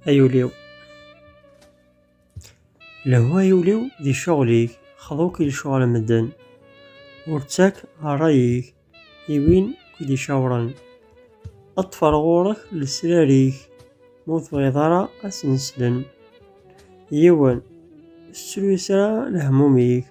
Ay ul-iw Lehwa ay ul-iw di ccɣel-ik xḍu-k i lecɣal n medden Ur ttak ṛṛay-ik i win k-id-icawṛen Ṭṭef ar ɣur-k lesrar-ik ma ur tebɣiḍ ara ad sen-slen Yiwen, ur tettru-as ara lehmum-ik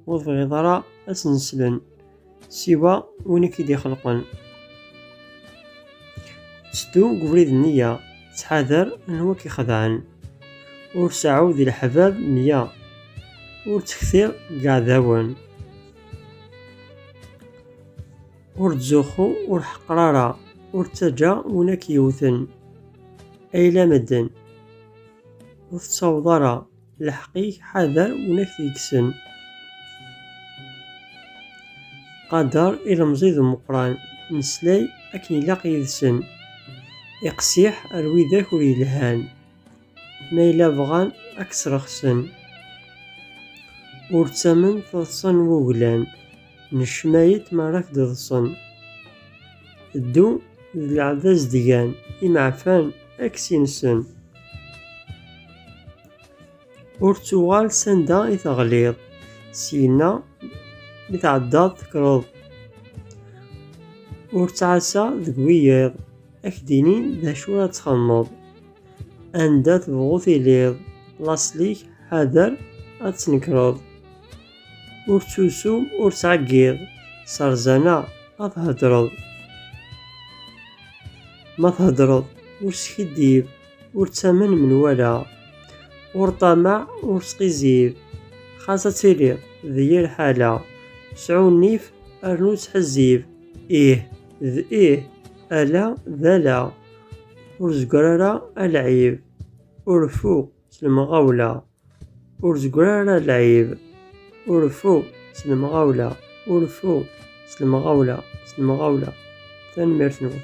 ur tebɣiḍ ara ad ten-slen siwa win i k-id-ixelqen seddu deg ubrid nniya ttḥadar anwa k-ixedɛen ur seɛɛu di leḥbab mya ur ttekti deg iɛdawen ur ttzuxxu ur ḥeqqer ara ur ttaǧǧa win ak-yewten ayla medden ur tettawḍ ara Lḥeq-ik ḥader win ak t-yekksen. Qader ilemẓi d umeqran, neslay akken ilaq yid-sen. Iqsiḥ ar widak ur yelhan, ma yella bɣan ak-srexsen. Ur ttamen taḍsa n wuglan, Necna-yi-d mi ara k-d-ḍsen. Ddu d leɛbaz dgan, imeɛfan ad k-sinsen. Ur ttuɣal s anda i teɣliḍ, syenna mi tɛeddaḍ tekkreḍ. Ur ttɛassa deg wiyiḍ, ad k-d-inin d acu ara txedmeḍ. Anda tebɣuḍ tiliḍ, laṣel-ik ḥader ad tnekreḍ. Ur ttusu, ur ttɛeggiḍ, serzana ma theddreḍ. Ma theddreḍ, ur skiddib, ur ttamen menwala. Ur ṭṭamaɛ, ur sqizzib, xas ad tiliḍ d yir ḥala. Sɛu nnif, rnu ttḥezzib, ih d ih, ala d ala. Ur zegger ara alɛib, ur fu. s lemɣawla ur zegger ara lɛib urfu s lemɣawla urfu s lemɣawla s lemɣawla tanemmirt-nwen